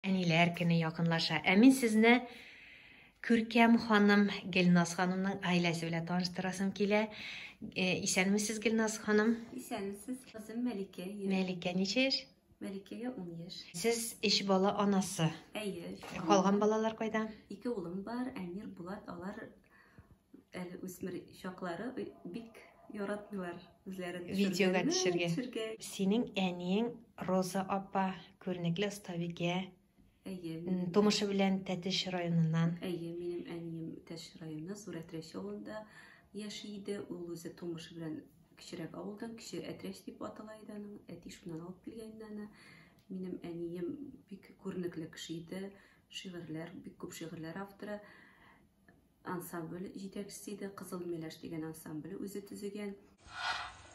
Әниләр көне якынлаша. Ә мин сезне күркәм ханым Гелназ ханымның гаиләсе белән таныштырасым килә. Э, исәнмесез, Гелназ ханым? Исәнмесез, кызым Мәликә. Мәликә ничә яшь? Мәликәгә 10 яшь. Сез эш бала анасы. Әйе. Калган балалар кайда? Ике улым бар, Әмир, Булат, алар Әле үсмер чаклары бик яратмыйлар үзләрен видеога төшергә. төшергә. Синең әниең Роза апа, күренекле остабикә. Әйе. Тумышы белән Тәтеш районыннан. Әйе, минем әнием Тәтеш районы Сурәтрәш авылында яши иде. Ул үзе тумышы белән кечерәк авылдан, кече Әтрәш дип атала иде аның. Әти шуннан алып килгән аны. Минем әнием бик күренекле кеше иде. Шигырьләр, бик күп шигырьләр авторы. Ансамбль җитәкчесе иде, Кызыл Миләш дигән ансамбль үзе төзегән.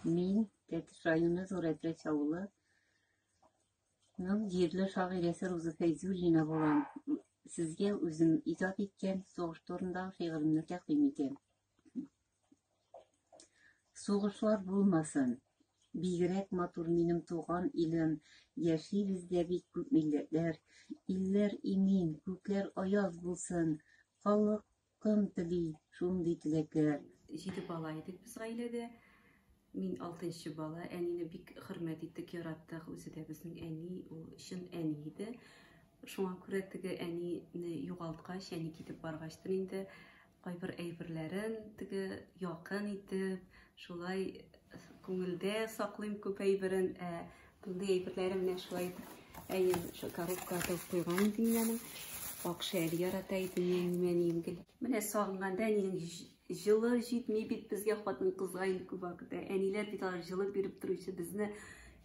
Мин Тәтеш районы Зурәтрәч авылы Ның җирле шагыйрәсе Руза Фәйзуллина булам. Сезгә үзем иҗат иткән сугыш турындагы шигыремне тәкъдим итәм. Сугышлар булмасын. Бигрәк матур минем туган илем. Яшибез дә бик күп милләтләр. Илләр имин, күкләр аяз булсын. Халыкым тели шундый теләкләр. Җиде бала идек без гаиләдә. Мин алтынчы бала. Әнине бик хөрмәт иттек, яраттык. Үзе дә безнең әни, ул чын әни иде. Шуңа күрә теге әнине югалткач, әни китеп баргачтыр инде кайбер әйберләрен теге якын итеп, шулай күңелдә саклыйм күп әйберен. Ә мондый әйберләре менә шулай итеп әйем шул коробка атып куйган иде мин аны. Акша әле ярата иде, нәни-мәни ингел. Менә сагынганда әнинең Җылы җитми бит безгә хатын-кызга инде күп вакытта. Әниләр бит алар җылы биреп торучы, безне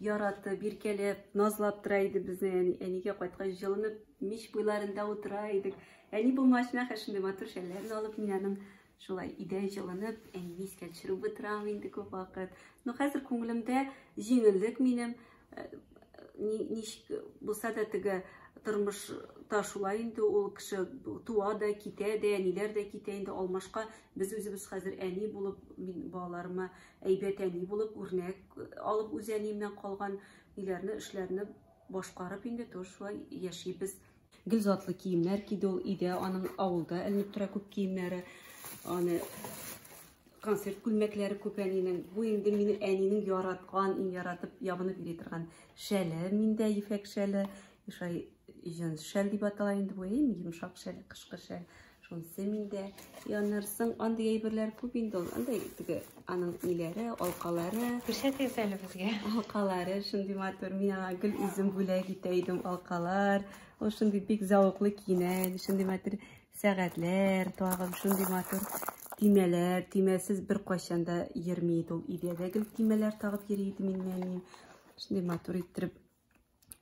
яратып, иркәләп, назлап тора иде безне. Әни, әнигә кайткач җылынып мич буйларында утыра идек. Әни булмагач, нәхәр шундый матур шәлләрен алып мин аның шулай идә җылынып, әнине искә төшереп утырам инде күп вакыт. Но хәзер күңелемдә җиңеллек минем. ничек булса да теге тормышта шулай инде ул кеше туа да китә дә әниләр дә китә инде алмашка без үзебез хәзер әни булып мин балаларыма әйбәт әни булып үрнәк алып үз әниемнән калган ниләрне эшләрне башкарып инде тоже шулай яшибез Гел затлы киемнәр киде ул өйдә, аның авылда эленеп тора күп киемнәре. Аны концерт күлмәкләре күп әнинең. Бу инде минем әнинең яраткан, иң яратып ябынып йөри торган шәле, миндә ефәк шәле, шулай җенс шәл дип атала инде бу, иң йомшак шәл, кышкы шәл. Шунсы миндә янырсың, андый әйберләр күп инде ул. Андый теге аның ниләре, алкалары. Күрсәтегез әле безгә. Алкалары шундый матур. Мин аңа гел үзем бүләк итә идем алкалар. Ул шундый бик зәвыклы киенә, шундый матур сәгатьләр, тагын шундый матур тимәләр, тимәсез бер кайчан да йөрми иде ул. Идәдә гел тимәләр тагып йөри иде миннән. Шундый матур иттереп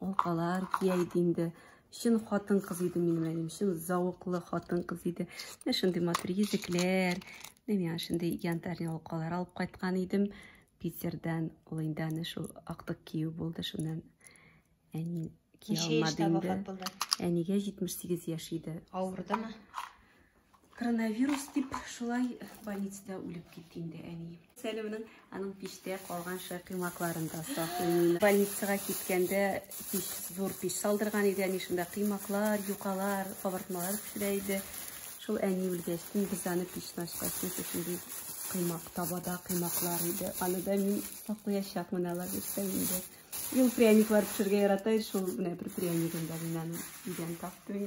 Алкалар кия иде инде. Чын хатын-кыз иде минем әним, чын зауыклы хатын-кыз иде. Менә шундый матур йөзекләр, менә шундый янтарь алкалар алып кайткан идем. Питердан ул инде аны шул актык кию булды, шуннан әни кия алмады инде. Әнигә 78 яшь иде. Авырдымы? Коронавирус дип шулай больницада үлеп китте инде әни. Сәлимнең аның пиштә калган шәкыймакларын да саклыйм. Больницага киткәндә пич, зур пич салдырган иде әни шунда кыймаклар, юкалар, кабартмалар пешерә иде. Шул әни үлгәч, без аны пичне ачкач, шундый кыймак табада кыймаклар иде. Аны да мин саклаячакмын алар бирсә инде. Ил пряниклар пешерергә ярата иде, шул менә бер пряникын да мин аны өйдән таптым.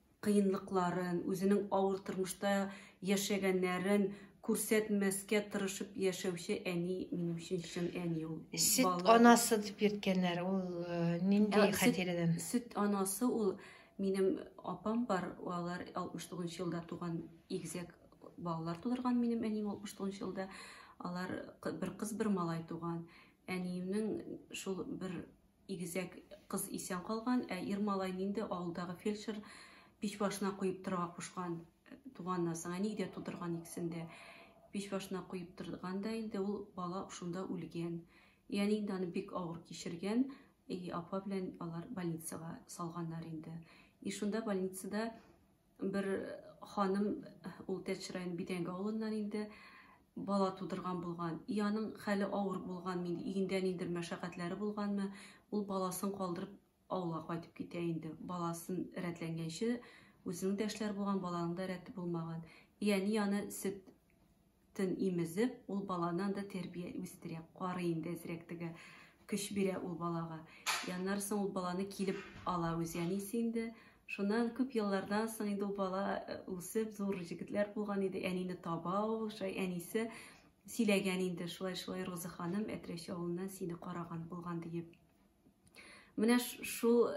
кыенлыкларын, үзенең авыр тормышта яшәгәннәрен күрсәтмәскә тырышып яшәүче әни минем өчен чын әни ул. Сөт Бала... анасы дип йөрткәннәр. Ул э, нинди ә, хатирәдән? Сөт, сөт анасы ул минем апам бар, алар 69 елда туган игезәк балалар тудырган минем әним 69 елда. Алар бер кыз, бер малай туган. Әниемнең шул бер Игезәк кыз исән калган, ә ир малайны инде авылдагы фельдшер пич башына куеп торырга кушкан. Туганнан соң әни дә тудырган икесен дә. Пич башына куеп торган да инде ул бала шунда үлгән. И әни инде аны бик авыр кичергән, и апа белән алар больницага салганнар инде. И шунда больницада Бер ханым, ул Тәтч районы Бидәңге авылыннан инде, бала тудырган булган. И аның хәле авыр булган, инде өендә ниндер мәшәкатьләре булганмы, ул баласын калдырып авылга кайтып китә инде. Баласын рәтләнгәнче, үзенең дә эшләр булган, баланың да рәте булмаган. И әни аны сөт Төн имезеп, ул баланы анда тәрбия үстерә, карый инде әзрәк теге, көч бирә ул балага. Яннар соң ул баланы килеп ала үз әнисе инде. Шуннан күп еллардан соң инде ул бала э, үсеп, зур җегетләр булган иде. Әнине таба ул, шулай әнисе сөйләгән инде, шулай-шулай Роза ханым Әтрәш авылыннан сине караган булган диеп. Менә шул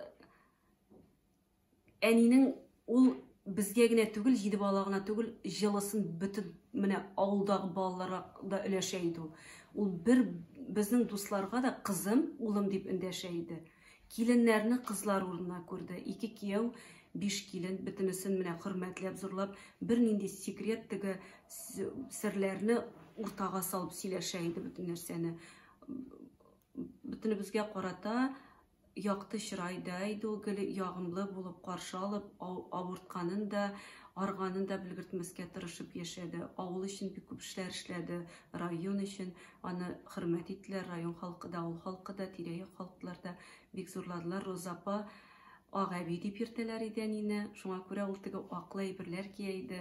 Әнинең ул безгә генә түгел, җиде балага гына түгел, җылысын бөтен менә авылдагы балаларга да өләшә иде ул. Ул бер безнең дусларга да кызым, улым дип эндәшә иде. Киленнәрне кызлар урынына күрде. Ике кияү, биш килен, бөтенесен менә хөрмәтләп, зурлап, бернинди секрет теге серләрне уртага салып сөйләшә иде бөтен нәрсәне. Бөтенебезгә карата Якты чырай да иде ул, гел ягымлы булып каршы алып, авыртканын да, арыганын да белгертмәскә тырышып яшәде. Авыл өчен бик күп эшләр эшләде, район өчен. Аны хөрмәт иттеләр, район халкы да, авыл халкы да, тирә-як халыклар да бик зурладылар. Роза апа, Ак әби дип йөртәләр иде әнине, шуңа күрә ул теге аклы әйберләр кия иде.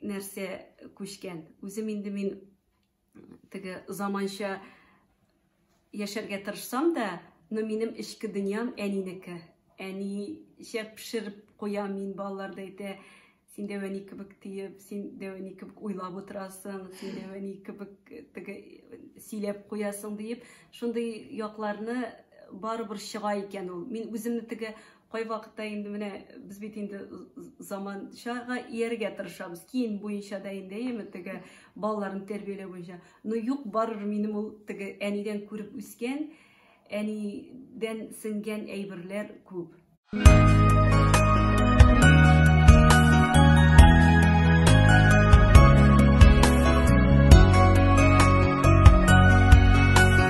нәрсә күчкән. Үзем инде мин теге заманча яшәргә тырышсам да, но минем эчке дөньям әнинеке. Әничә пешереп куя мин балалар да әйтә, син дә әни кебек тиеп, син дә әни кебек уйлап утырасың, син дә әни кебек теге сөйләп куясың диеп, шундый якларны барыбер чыга икән ул. Мин үземне теге Кайвакытта инде менә без бит инде заманчага ияргә тырышабыз. Киен буенча да инде, яме теге балаларны тәрбияләү буенча. Но юк, барыбер минем ул теге әнидән күреп үскән, әнидән сеңгән әйберләр күп.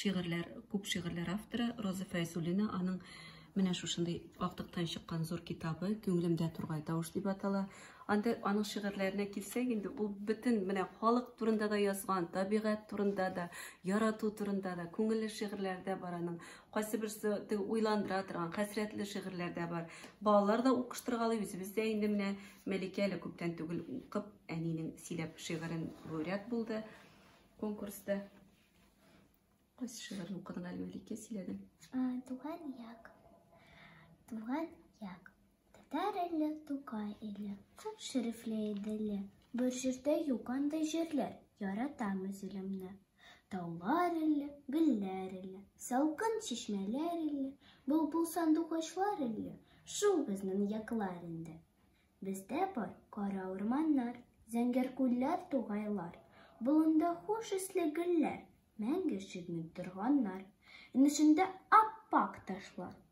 шигырьләр, күп шигырьләр авторы Роза Фәйзуллина аның менә шушындый актыктан чыккан зур китабы Күңелемдә тургай тавыш дип атала. Анда аның шигырьләренә килсәк, инде ул бөтен менә халык турында да язган, табигать турында да, ярату турында да, күңелле шигырьләр дә бар аның. Кайсы берсе теге уйландыра торган, хәсрәтле шигырьләр дә бар. Балалар да укыштыргалый, үзебез дә инде менә Мәликә әле күптән түгел укып, әнинең сөйләп шигырен лауреат булды конкурста. Кайсы шигырен укыдың әле Мәликә сөйләдең? Туган як. Туган як. Татар иле, Тукай иле, күп шәрифле Иделе. Бер җирдә юк андый җирләр, яратам үз илемне. Таулар иле, гөлләр иле, салкын чишмәләр иле, булбул сандугачлар иле, шул безнең яклар инде. Бездә бар кара урманнар, зәңгәр күлләр, тугайлар, болында хуш исле гөлләр, мәңге чигми торганнар. Инешендә ап-ак ташлар,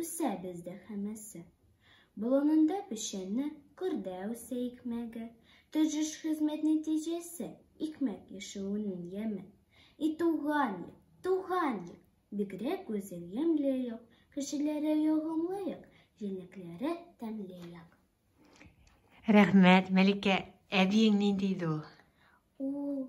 Үсә бездә һәммәсе. Болынында печәнне, кырда үсә икмәге. Тырыш хезмәт нәтиҗәсе, икмәк яше унын яме. И туган як, туган як! Бигрәк гүзәл ямьле як, кешеләре ягымлы як, җиләкләре тәмле як. Рәхмәт, Мәликә. Әбиең нинди иде ул? Ул,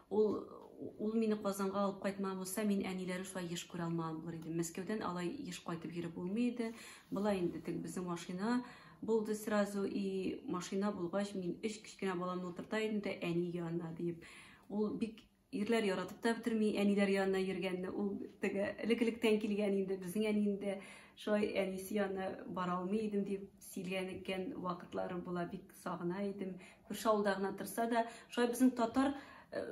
Ул ул мине Казанга алып кайтма булса, мин әниләрен шулай еш күрә алмаган булыр идем. Мәскәүдән алай еш кайтып йөреп булмый иде. Болай инде тек безнең машина булды сразу и машина булгач мин өч кечкенә баламны утырта идем дә әни янына диеп. Ул бик ирләр яратып та бетерми әниләр янына йөргәнне ул теге элек электән килгән инде безнең әни инде шулай әнисе янына бара алмый идем дип сөйләгән икән вакытлары була бик сагына идем Күрше авылда гына торса да, шулай безнең татар э,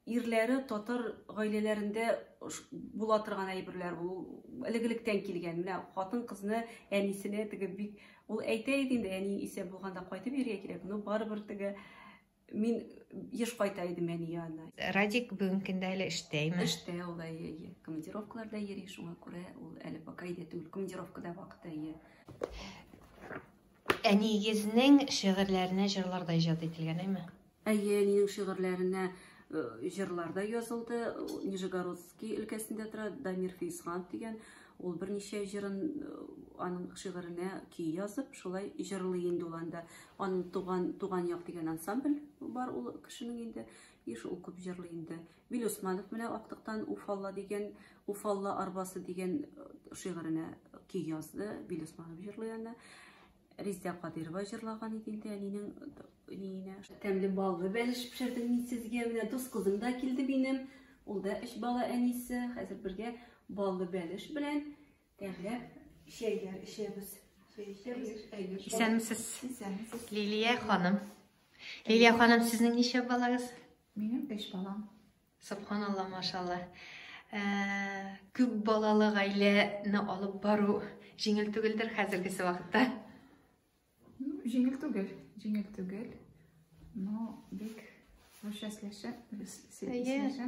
ирләре татар гаиләләрендә була торган әйберләр бу элек-электән килгән. Менә хатын-кызны әнисенә теге бик ул әйтә иде инде, әни исә булганда кайтып йөрергә кирәк, но барыбер теге мин еш кайта идем әни янына. Радик бүгенге көндә әле эштәме? Эштә ул да ие, командировкаларда йөри, шуңа күрә ул әле пока өйдә түгел, командировкада вакыты ие. Әниегезнең шигырьләренә җырларда иҗат ителгән, әйме? Әйе, әнинең шигырьләренә җырлар да язылды. Нижегородский өлкәсендә тора Дамир Фейсханов дигән. Ул берничә җырын аның шигыренә көй язып, шулай җырлый инде ул анда. Аның туган туган як дигән ансамбль бар ул кешенең инде. И шул күп җырлый инде. Мин Усманов менә актыктан Уфалла дигән, Уфалла арбасы дигән э, шигыренә көй язды. Бил Усманов җырлый аны. Риздә Кадирова җырлаган иде инде әнинең ниенә. Тәмле баллы бәлеш пешердем мин сезгә. Менә дус кызым да килде минем. Ул да өч бала әнисе. Хәзер бергә баллы бәлеш белән Тәмләп чәйләр эчәбез. Исәнмесез. Лилия ханым. Лилия ханым, сезнең ничә балагыз? Минем биш балам. Субханалла, машалла. Ә, күп балалы гаиләне алып бару җиңел түгелдер хәзерге вакытта. Ну, җиңел түгел, җиңел түгел. Но бик рушасләшә, рушасләшә.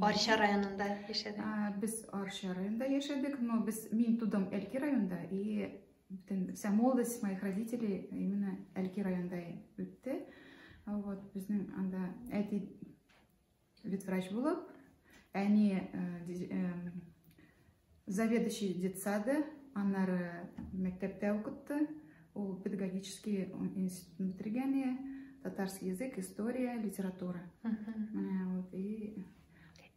Арча районында яшәдек. Без Арча районында яшәдек, но без мин тудым Әлки районында и бүтән вся молодость моих родителей именно Әлки районында үтте. Вот безнең анда әти ветврач булып, әни э, э, Заведующий детсады, аннары мәктәптә укытты. Ул педагогический институтын бетергән, татарский язык, история, литература. Вот и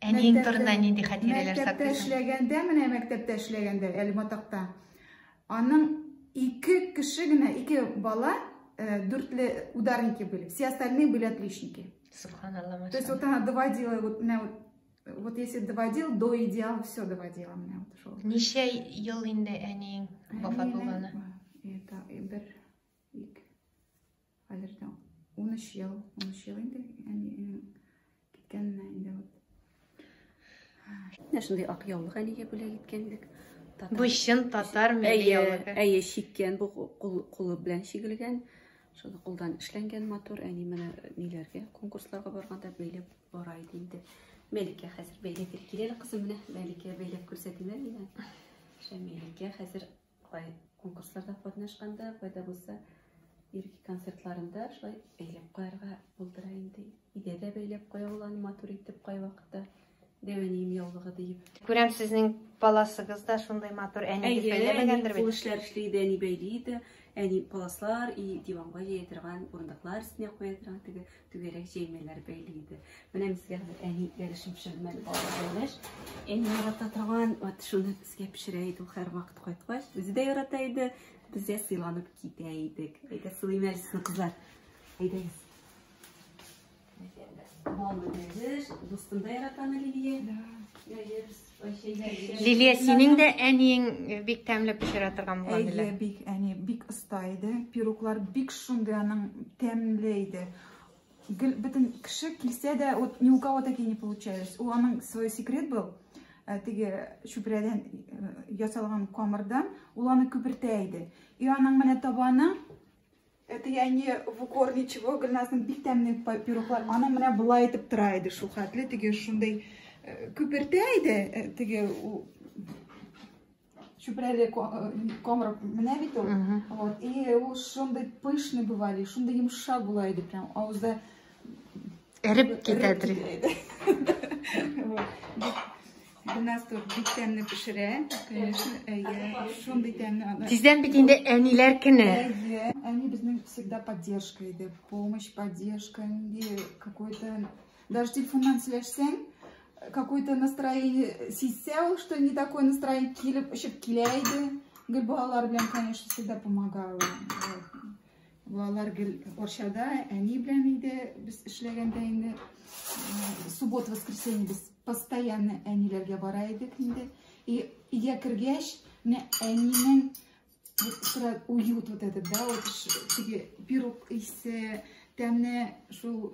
Әниең турында нинди хатирәләр саклыйсың? Мәктәптә эшләгәндә, менә мәктәптә эшләгәндә, Әлматакта. Аның ике кеше генә, ике бала э, дүртле ударники были. Все остальные были отличники. Субханаллах. То есть вот она доводила вот, вот Вот если доводил, до идеала все доводила меня вот шел. Ничә ел инде әниең вафат булганы? Это бер ик. Хәзердән 13 ел, 13 ел инде әниең киткәненә инде вот. Менә шундый ак яулык әнигә бүләк иткән идек. Бу чын татар милли яулыгы. Әйе, чиккән бу кулы белән чигелгән. Шуны кулдан эшләнгән матур әни менә ниләргә конкурсларга барганда бәйләп бара иде инде. Мәликә хәзер бәйләп бир. Киләле кызым менә Мәликә бәйләп күрсәтимә миңа. Шәмиләгә хәзер кай конкурсларда катнашканда, кайда булса ирки концертларында шулай бәйләп куярга булдыра инде. Идә дә бәйләп куя ул аны матур итеп кайвакытта. Дәвәнием яулыгы диеп. Күрәм сезнең паласыгыз да шундый матур әни дип бәйләмәгәндер бит. Кул эшләр эшли иде, әни бәйли иде. Әни паласлар и диванга җәя торган, урындыклар өстенә куя торган теге түгәрәк җәймәләр бәйли иде. Менә безгә хәзер әни ярышым шәммәл балалаш. Әни ярата торган, вот шуны безгә пешерә иде һәр вакыт кайткач. Үзе дә ярата иде. Без дә сыйланып китә идек. Әйдә сылыйм әле сезне кызлар. Әйдәгез. Лилия, синең дә әниең бик тәмле пешерә торган булган диләр. Әйе, бик әни бик оста иде. Пироглар бик шундый аның тәмле иде. Гел бөтен кеше килсә дә, вот ни у кого таки не получалось. У аның свой секрет был. Э, теге чүпрәдән э, ясалган камырдан ул аны күпертә иде. И аның менә табаны Это я не в укор ничего, Гөлназның бик тәмле пирухлар. Аны менә болай итеп тора иде, шул хәтле теге шундый э, күпертә иде, э, теге чүпрәле э, комрак менә бит ул. Вот, и ул шундый пышный бывали, шундый йомшак була иде, прям авызда Эреп китә дри. У нас тут бик тәмле пешерә. Конечно, әйе. Шундый тәмле аны. Тиздән бит инде әниләр көне. Әйе. Әни безнең всегда поддержка иде. Помощь, поддержка, инде какой-то даже телефоннан сөйләшсәң, какое-то настроение сизсә ул, что не такое настроение килеп, очып килә иде. Гөлбалалар белән, конечно, всегда помогала. Балалар гел Арчада әни белән инде без эшләгәндә инде суббота воскресенье без постоянно әниләргә бара идек инде. И өйгә кергәч, менә әнинең сыра уют вот этот, да, вот теге пирог исе, тәмне шул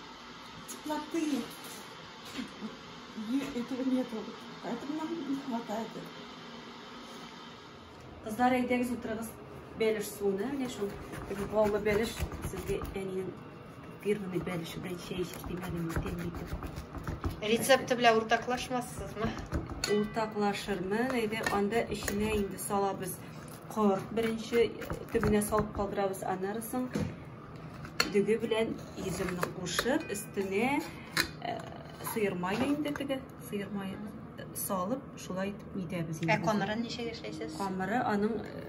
Теплоты этого нету, поэтому нам не хватает. Кызлар, әйдәгез утырыгыз бәлеш суына, менә шул баллы бәлеш сезгә әнием фирменный бәлеше белән чәй эчеп димәдем, тәмле Рецепты белән уртаклашмассызмы? Уртаклашырмын, әйдә анда эченә инде салабыз корт беренче төбенә салып калдырабыз, аннары соң Дөге белән йөземне кушып, өстенә э, сыер мае инде теге, сыер мае э, салып, шулай итеп нитәбез инде. Ә камырын ничек эшләйсез? Камыры аның э,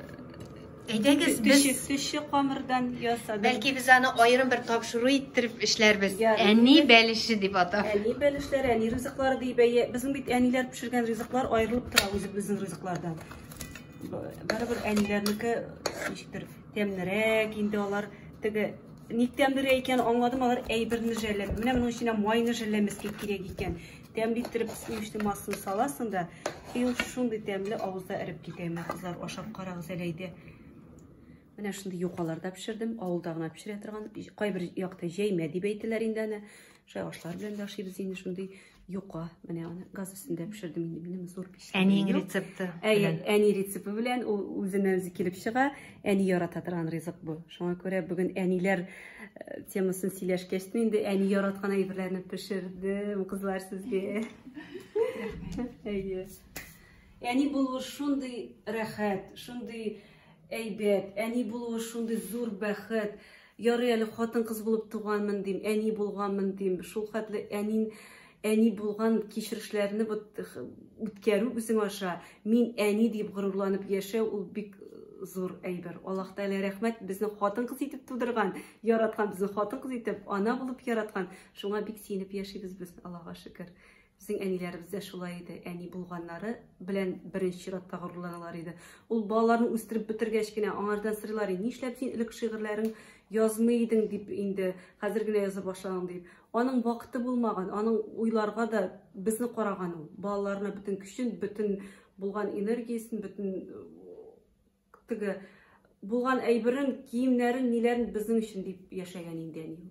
Әйдәгез, без төче, төче камырдан ясадык. Бәлки без аны аерым бер тапшыру иттереп эшләрбез. Я, Әни бәлеше дип атап. Әни бәлешләре, әни ризыклары дип әйе. Безнең бит әниләр пешергән ризыклар аерылып тора үзебезнең ризыклардан. Б- Барыбер әниләрнеке ничектер Тәмнерәк инде алар теге ник тәмлерәк икән аңладым алар әйберне жәлләп менә моның эченә майны жәлләмәскә кирәк икән тәмле иттереп сливочный массаны саласың да и ул шундый тәмле авызда эреп китә менә кызлар ашап карагыз әле әйдә менә шундый юкаларда пешердем авылда гына пешерә торган кайбер якта җәймә дип әйтәләр инде аны шулай ашлар белән дә ашыйбыз инде шундый Юка, менә аны газ өстендә пешердем инде минем зур пеш. Әниең рецепты. Әйе, әни рецепты белән ул үзеннән үзе килеп чыга. Әни ярата торган ризык бу. Шуңа күрә бүген әниләр э, темасын сөйләшкәч инде әни яраткан әйберләрне пешердем, кызлар сезгә. Әйе. Әни булу шундый рәхәт, шундый әйбәт, әни булу шундый зур бәхет. Ярый әле хатын-кыз булып туганмын дим, әни булганмын дим. Шул хәтле әнин әни булган кичерешләрне үткәрү үзең аша мин әни дип горурланып яшәү ул бик зур әйбер. Аллаһ Тәгалә рәхмәт безне хатын-кыз итеп тудырган, яраткан, безне хатын-кыз итеп, ана булып яраткан. Шуңа бик сөенеп яшибез без, Аллаһка шөкер. Безнең әниләребез дә шулай иде. Әни булганнары белән беренче чиратта горурланалар иде. Ул балаларны үстереп бетергәч кенә аңардан сырлар иде. Нишләп син элек шигырьләрең язмый идең дип инде, хәзер генә яза башлагаң дип. Аның вакыты булмаган, аның уйларга да безне караган ул. Балаларына бөтен көчен, бөтен булган энергиясен, бөтен э, теге булган әйберен, киемнәрен, ниләрен безнең өчен дип яшәгән инде әни.